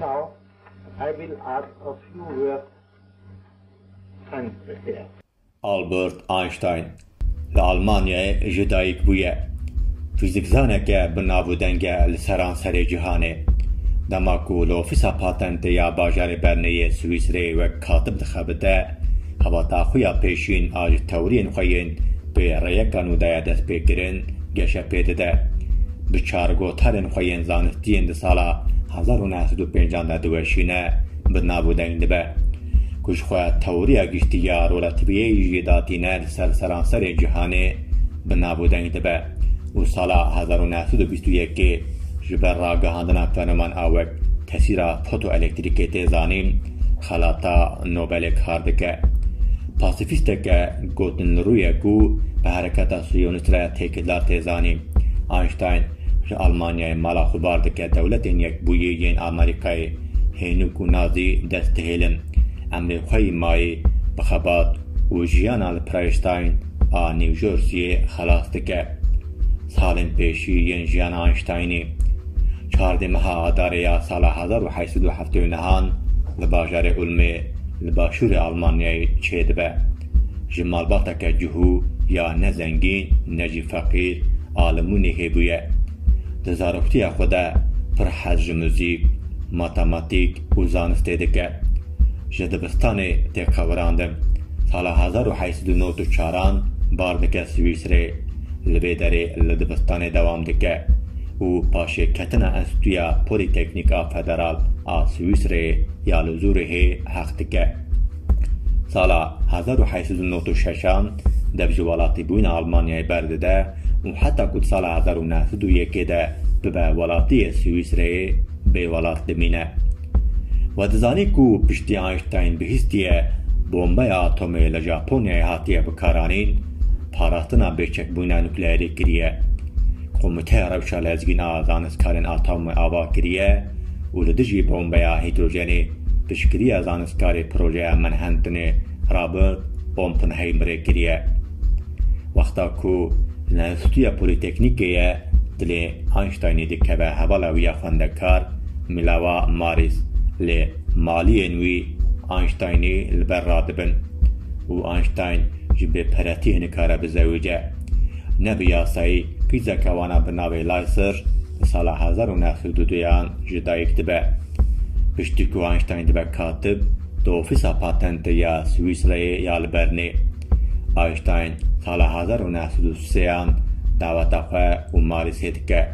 Now I will add a few words and prepare. Albert Einstein li Almanyayê jî dayîk bûye. Fîzîkzaneke bi nav û deng e li seranserê cîhanê. Dema ku li ofîsa patentê ya bajarê Bernê yê Swîsreyê wek katib dixebite, xebata xwe ya pêşîn a ji tewriyên xwe yên pê rêyeka nû daye destpêkirin, geşe pê dide. Bi çargotarên xwe yên zanistiyên di sala hezar û neh sed û pêncan de diweşîne, bi nav û deng dibe. Ku ji xwe tewriya giştî ya rolatîbiyê jî datîne li ser seranserê cîhanê, bi nav û deng dibe û sala hezar û neh sed û bîst û yekê ji ber ragihandina fenoman a wek tesîra fotoelektrîkê tê zanîn, Xelata Nobelê kar dike. Pasîfîsteke gotinrû ye ku bi hereketa siyonîst re têkildar tê zanîn. Einstein ji Almanyayê mala xwe bar dike dewletên yekbûyî yên Amerîkayê hênûk û nazî dest dihêlin. Em lê xwe yî mayî bi xebat û jiyana li Preîstein a New Jerseyê xelas dike. Salên pêşî yên jiyana Einsteinê. Çardê meha Adarê ya sala hezar û heşt sed û heftê û nehan li bajarê Ulmê li başûrê Almanyayê çêdibe. Ji malbateke cihû ya ne zengîn ne jî feqîr a li Mûnîhê bûye. Di zaroktiya xwe de pir hez ji muzîk, matematîk û zanistê dike. Ji dibistanê tê qewirandin. Sala hezar û heşt sed û nod û çaran bar dike Swîsrê. Li vê derê li dibistanê dewam dike. û paşêketina Enstîtuya Polîteknîk a Federal a Swîsreyê ya li Zûrîhê heq dike. Sala hezar û heşt sed û newt û şeş a dev ji welatîbûyîna Almanyayê berdide û heta ku di sala hezar û neh sed û yekê de bibe welatî yê Swîsreyê bê welat dimîne. We dizanî ku piştî Einstein bihîstiye bombeya atomê li Japonyayê hatiye bikaranîn, parastina bêçekbûna nukleerî kiriye. Komîteya Rewşa Lezgîn a Zanistkarên Atomê ava kiriye û li dijî bombeya hîdrojenê piştgiriya zanistkarê projeya Manhattanê Robert Oppenheimerê kiriye. Wexta ku li Enstîtuya Polîteknîkê ye dilê Einsteinê dikeve hevala wî ya xwendekar Milawa Maris lê maliyên wî Einsteinê li ber radibin û Einstein Ji bêperetiyê nikare bizewije. Ne bi yasayî kîzeke wana bi navê Lyser di sala hezar û neh sed û duyan ji dayîk dibe. Piştî ku Einstein dibe katib di ofîsa patentê ya Swîsreyê ya li Bernê. Einstein sala hezar û neh sed û sêyan daweta xwe û Marie sê dike.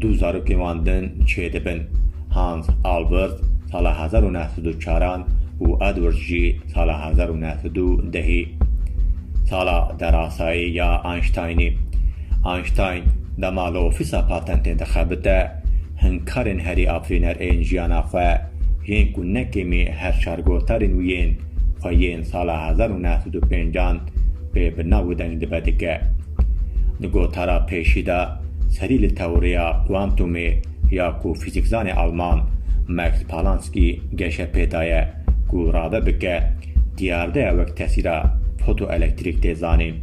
Du zarokên wan din çêdibin. Hans Albert sala hezar û neh sed û çaran û Edward jî Sala hezar û neh sed û du dehî sala derasayî ya Einsteinî. Einstein dema li ofîsa patentên dixebite, hinkarên herî afirîner ên jiyana xwe yên ku ne kêmî her çar gotarên wî yên xwe yên sala hezar û neh sed û pêncan pê bi nav û deng dibe dike. Di gotara pêşî de serî li teworiya kuantumê ya ku fîzîkzanê alman Max Palanski geşepê daye. ku rave bike diyardeya wek tesîra fotoelektrîk tê zanîn.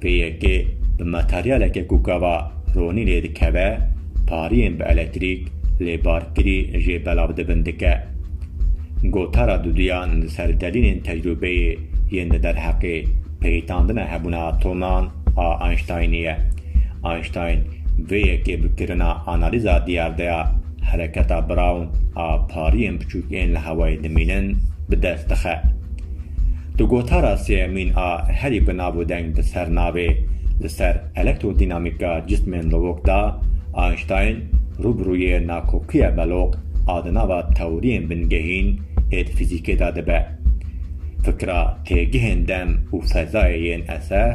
Vê yekê bi materyaleke ku gava ronî lê dikeve pariyên bi elektrîk lê barkirî jê belav dibin dike. Gotara duduyan li ser delîlên tecrûbeyê yên di derheqê peyitandina hebûna atoman a Einsteinî ye. Einstein vê yekê bi kirina analîza diyardeya hereketa Brown a pariyên biçûk ên li hewayê dimînin bi dest dixe. Di gotara sêyemîn a herî bi nav û deng bi ser navê Li ser elektrodînamîka cismên lowok da Einstein rû bi rûyê nakokiya beloq a di nava tewriyên bingehîn ê di fîzîkê da dibe. Fikra têgihên dem û fezayê yên eser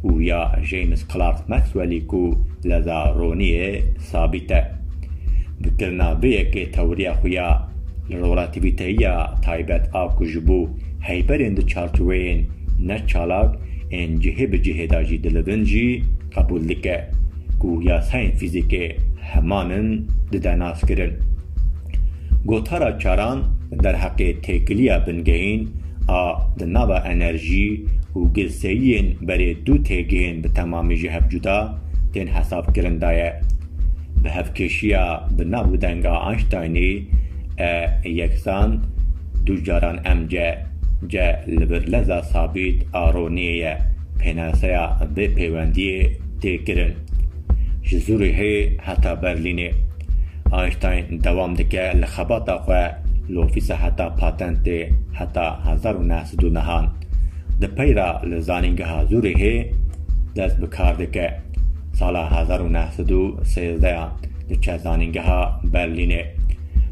û ya James Clerk Maxwellî ku leza roniyê sabît e. Bi kirina vê yekê tewriya xwe ya li rolatîvîteyiya taybet a ku ji bo heyberên di çarçoveyên ne çalak ên cihê bi cihê de jî dilivin jî qebûl dike ku yasayên fîzîkê heman in dide naskirin. Gotara Çaran derheqê têkiliya bingehîn a di nava enerjî û ginseyiyên berê du têgihên bi temamî ji hev cuda tên hesabkirin de ye. Bi hevkêşiya bi nav û denga Einsteinî E yeksan du caran mc C li vir leza sabît a roniyê ye pênaseya vê pêwendiyê tê kirin ji Zurîhê heta Berlînê. Einstein dewam dike li xebata xwe li ofîsa heta patentê heta hezar û neh sed û nehan di peyra li zanîngeha Zûrîhê dest bi kar dike. Sala hezar û neh sed û sêzdeyan diçe zanîngeha Berlînê.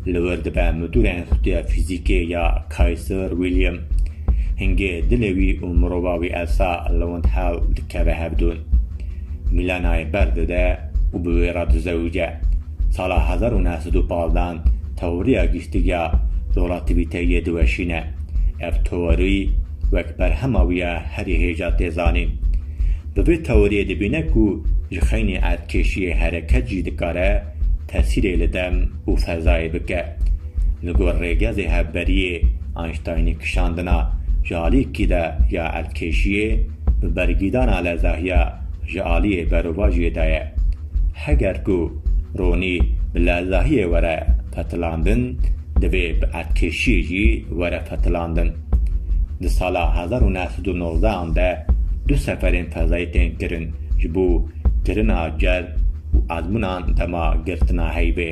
Li wir dibe midûra Enstîtuya Fîzîkê ya Kaiser William. Hingê dilê wî û mirova wî Elsa li wind hewl dikeve hevdûn. Milenayê ber dide û bi wê re dizewice. Sala hezar û neh sed û pazdan tewriya giştigiya Dolativîteyiyê diweşîne. Ev teorî wek berhema wî ya herî hêja tê zanîn. Bi vê teoriyê dibîne ku ji xeynî erdkêşiyê hereket jî dikare tesîrê li dem û fezayê bike. Li gor rêgezê hevberiyê Einsteinî kişandina ji alîkî de ya erdkêşiyê, bi bergîdana lezahiya ji aliyê berovajiyê de ye. Heger ku ronî bi lezahiyê were petilandin, divê bi etkêşiyê jî were petilandin. Di sala hezar û neh sed û nozde an de du seferên fezayî tên kirin ji bo kirina cezb û ezmûnan dema girtina heyvê.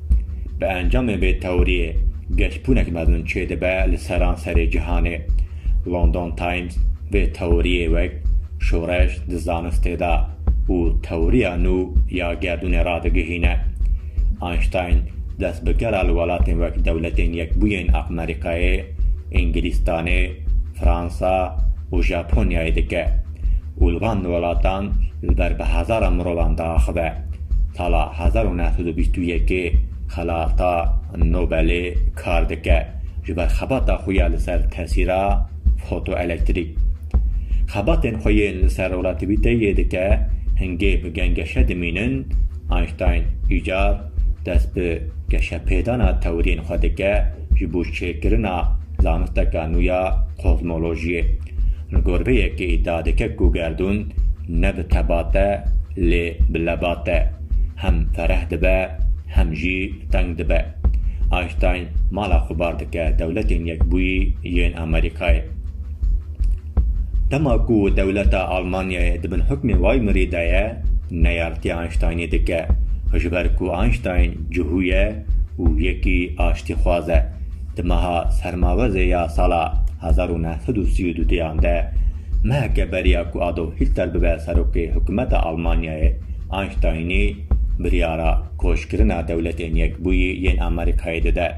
Bi encamê vê tewriyê geşbûnek mezin çêdibe li seranserê cîhanê. London Times vê tewriyê wek şoreş di zanistê de û tewriya nû ya gerdûnê radigihîne. Einstein dest bi gera li welatên wek Dewletên Yekbûyên Amerîkayê, Îngilîstanê, Fransa û Japonyayê dike. û li van welatan li ber bi hezaran mirovan diaxive. Sala hezar û neh sed û bîst û yekê Xelata Nobelê kar dike ji ber xebata xwe ya li ser tesîra fotoelektrîk. Xebatên xwe yên li ser relativîteyê dike, hingê bi gengeşe dimînin, Einstein îcar dest bi geşepêdana tewiriyên xwe dike ji bo çêkirina zanisteka nû ya kozmolojiyê. Min got vê yekê îdia dike ku gerdûn ne bi tebat e lê bi lebat e. Hem fereh dibe hem jî teng dibe. Einstein mala xwe bar dike Dewletên Yekbûyî yên Amerîkayê. Dema ku dewleta Almanyayê di bin hukmê Waymerî de ye, neyartiya Einsteinê dike. Ji ber ku Einstein cihû ye û yekî aştîxwaz e. Di meha sermawezê ya sala hezar û neh sed û sî û du deyan de meheke beriya ku Adolf Hitler bibe serokê hikûmeta Almanyayê, Einsteinî biryara koçkirina Dewletên Yekbûyî yên Amerîkayê dide.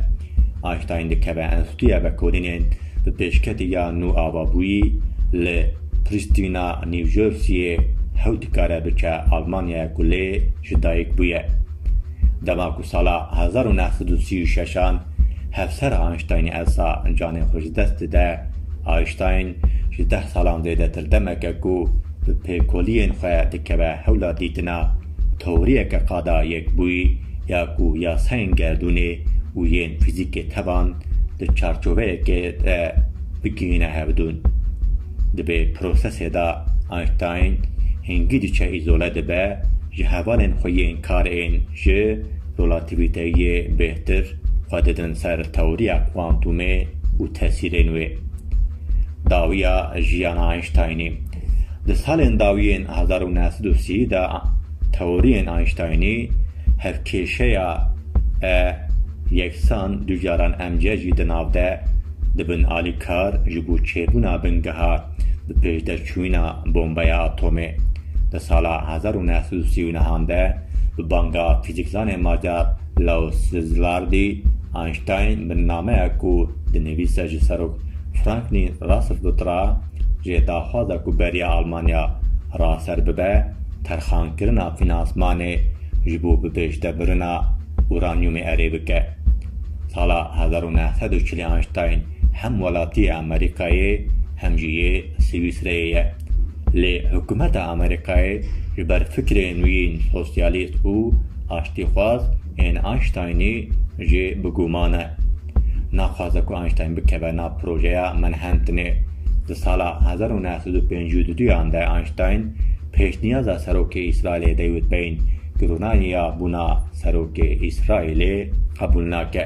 Einstein dikeve Enstîtuya Vekolînên bi pêşketî ya nû ava bûyî li Prîstîna, New Jerseyê hewt kare biçe Almanyaya ku lê ji dayik bûye. Dema ku sala hezar û neh sed û sî û şeş an Hevsera Einsteinê Elsa canê xwe ji dest dide. Einstein ji deh salan zêdetir demek e ku bi pêkoliyên xwe dikeve hewla dîtina teoriyeke qada yekbûyî ya ku yasayên gerdûnê û yên fîzîkê tevan di çarçoveyekê de bigihîne hevdûn. Di vê prosesê de Einstein hingî diçe îzole dibe ji hevalên xwe yên kar ên ji Relativîteyê bêhtir xwe didin ser tewriya kuantumê û tesîrên wê. Dawiya jiyana Einsteinî Di salên dawiyên hezar û neh sed û sî de tewriyên Einsteinî hevkêşeya E yeksan du caran mc jî di nav de dibin alîkar ji bo çêbûna bingeha bi pêşderçûyîna bombeya atomê. Di sala hezar û neh sed û sî û nehan de Bi banga fîzîkzanê macar Laus Szilárdi, Einstein bi nameya ku dinivîse ji Serok Franklin Roosevelt re jê daxwaza ku beriya Almanya raser bibe terxankirina fînansmanê ji bo bi pêşdebirina uranyûmê erê bike. Sala hezar û neh sed û çilî Einstein hem welatiyê Amerîkayê hem jî yê Swîsreyê ye. Lê hikûmeta Amerîkayê ji ber fikrê nûyîn sosyalîst û aştîxwaz ên Einsteinî jî bi guman e. Naxwaze ku Einstein bikeve nav projeya Manhattanê. Di sala hezar û neh sed û pêncî û duyan de Einstein pêşniyaza serokê Îsraîlê Dewîd Beyn, ku rûnayî ya bûna serokê Îsraîlê qebûl nake.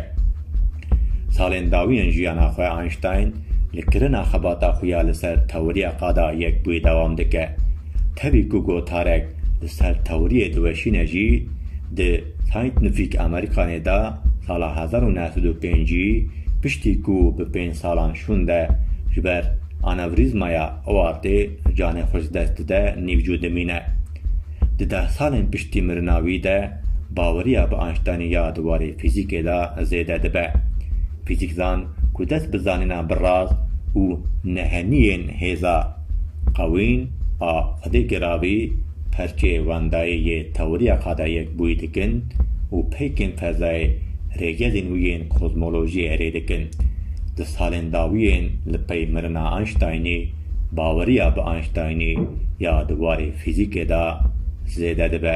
Salên dawî yên jiyana xwe Einstein li kirina xebata xwe ya li ser tewriya qada yekbûyî dewam dike. Tevî ku gotarek li ser tewriyê diweşîne jî, di Scientific Americanê de sala hezar û neh sed û pêncî piştî ku bi pênc salan şûnde ji ber anewrîzmaya aortê canê xwe ji dest dide nîvcu dimîne. Di deh salên piştî mirina wî de baweriya bi Einsteinê ya di warê fîzîkê de zêde dibe. Fîzîkzan ku dest bi zanîna bi rast û neheniyên hêza qewîn a xwedêkê re avî perçê wendayî yê tewriya qadayek bûyî dikin û peykên fezayê rêgezên wî yên kozmolojiyê erê dikin. Di salên dawiyên li pey mirina Einsteinê, baweriya bi Einsteinê ya di warê fîzîkê de zêde dibe.